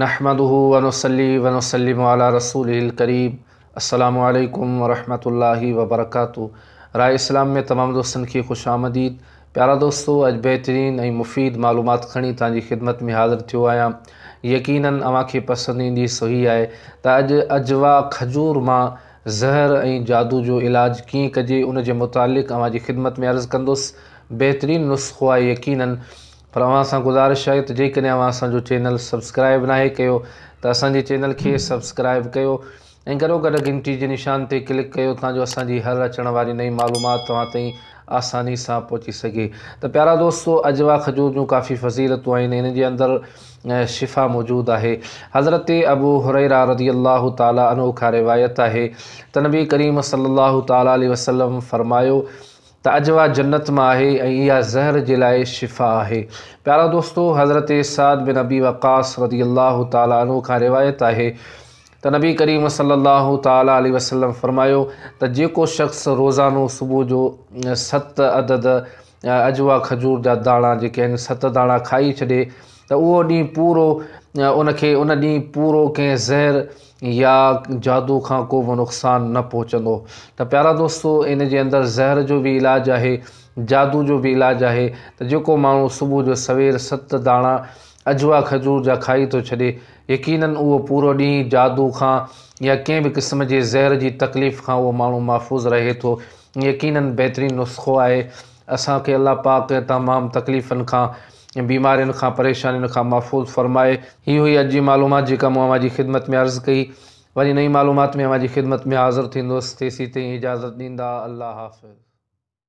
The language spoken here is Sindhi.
نحمده ونصلي ونسلم علي رسوله الڪريم السلام عليڪم ورحمة الله وبرڪاته راء اسلام ۾ تمام دوستن کي خوش آمديد پيارا دوستو اڄ بهترين ۽ مفيد معلومات کڻي توهان جي خدمت ۾ حاضر ٿيو آهيان يقينا اوهان کي پسند ايندي سو هي آهي ته اڄ اجوا کجور مان زهر ۽ جادو جو علاج ڪيئن ڪجي ان جي متعلق اوهان جي خدمت ۾ عرض ڪندس بهترين نسخو آهي يقينا پر اوهان سان گذارش آهي ته جيڪڏهن اوهان اسان جو چينل سبسڪرائب ناهي ڪيو ته اسان جي چينل کي سبسڪرائب ڪيو ۽ گڏو گڏ گهنٽي جي نشان تي ڪلڪ ڪيو تان جو اسان جي هر اچڻ واري نئين معلومات توهان تائين آساني سان پهچي سگهي ته پيارا دوستو عجوا کجور جون ڪافي فضيلتون آهن ان جي اندر شفا موجود آهي حضرت ابو هريره رضي الله تعالي عنه کان روايت آهي ته نبي ڪريم صلي الله تعالي عليه وسلم فرمايو ته اڄ اها جنت مان آهي ۽ اها زهر جي لاء شفا آهي. پيارا دوستو! حضرت سعد بن ابي وقاص رضي الله تعالٰي عنه کان روايت آهي ته نبي ڪريم صلّي الله تعالٰي عليه وسلّم فرمايو ته جيڪو شخص روزانو صبح جو ست عدد عجوا کجور جا داڻا جيڪي آهن ست داڻا کائي ڇڏي ته اهو ڏينهن پورو ان کي ان ڏينهن پورو ڪنهن زهر يا جادو کان ڪو به نقصان نه پهچندو ته پيارا دوستو ان جي اندر زهر جو به علاج آهي جادو جو به علاج آهي ته جيڪو ماڻهو صبح جو سوير ست داڻا اجوا کجور جا کائي ٿو ڇڏي يقينن اهو پورو ڏينهن جادو کان يا ڪنهن به قسم جي زهر جي تڪليف کان اهو ماڻهو محفوظ رهي ٿو يقينن بهترين نسخو آهي اسان کي الله پاڪ تمام تڪليفن کان بيمارين کان پريشانين کان محفوظ فرمائي. هي هئي اڄ جي معلومات جيڪا مون اوهان جي خدمت ۾ عرض ڪئي. وري نئين معلومات ۾ اوهان جي خدمت ۾ حاضر ٿيندس تيسين تائين اجازت ڏيندا الله حافظ.